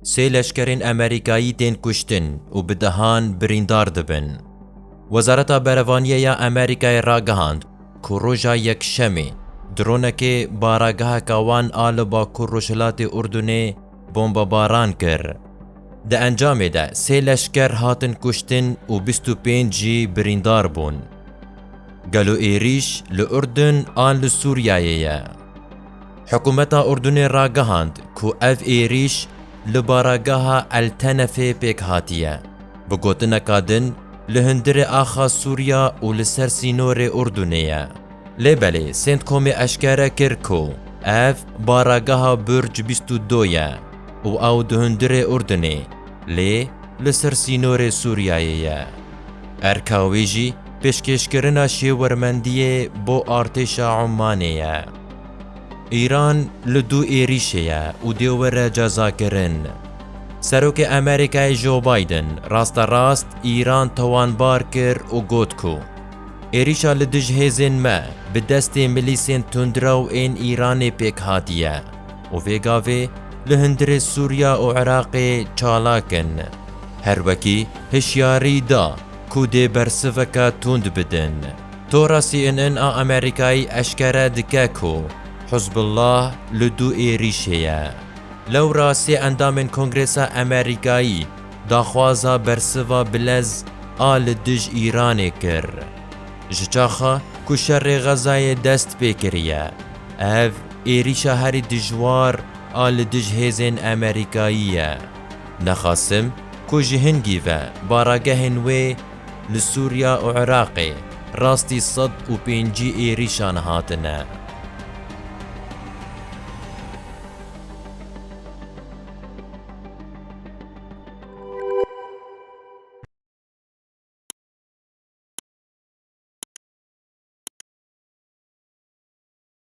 Sê leşkerên Amerîkayî tên kuştin û bi dehan birîndar dibin. Wezareta Berevaniyê ya Amerîkayê ragihand ku roja Yekşemê dronekê barageheka wan a li bakur-rojhilatê Urdunê bombebaran kir. Di encamê de sê leşker hatin kuştin û bîst û pênc jî birîndar bûn. Gelo êrîş li Urdun an li Sûriyeyê ye? Hikûmeta Urdunê ragihand ku ev êrîş li baragaha El Tenefê pêk hatiye. Bi gotineka din li hundirê axa Sûriya û li ser sînorê Urdunê ye. Lê belê Centcomê eşkere kir ku ev baragaha Burj bîst û du ye û ew di hundirê Urdunê lê li ser sînorê Sûriyeyê ye. Erka wê jî pêşkêşkirina şêwirmendiyê bo artêşa Ummanê ye. Îran li du êrîşê ye û dê were cezakirin. Serokê Amerîkayê Joe Biden rasterast Îran tawanbar kir û got ku êrîşa li dij hêzên me bi destê milîsên tundraw ên Îranê pêk hatiye û vê gavê li hundirê Sûriya û Iraqê çalak in. Her wekî hişyarî da ku dê bersiveke tund bidin. Tora CNN a Amerîkayê eşkere dike ku Hizbullah li du êrîşê ye. Lewra sê endamên Kongresa Amerîkayî daxwaza bersiva bilez a li dij Îranê kir. Ji çaxa ku şerê Xezayê dest pê kiriye, ev êrîşa herî dijwar a li dij hêzên Amerîkayî ye. Nexasim ku ji hingî ve baragehên wê Li Sûriya û Iraqê rastî sed û pêncî êrîşan hatine.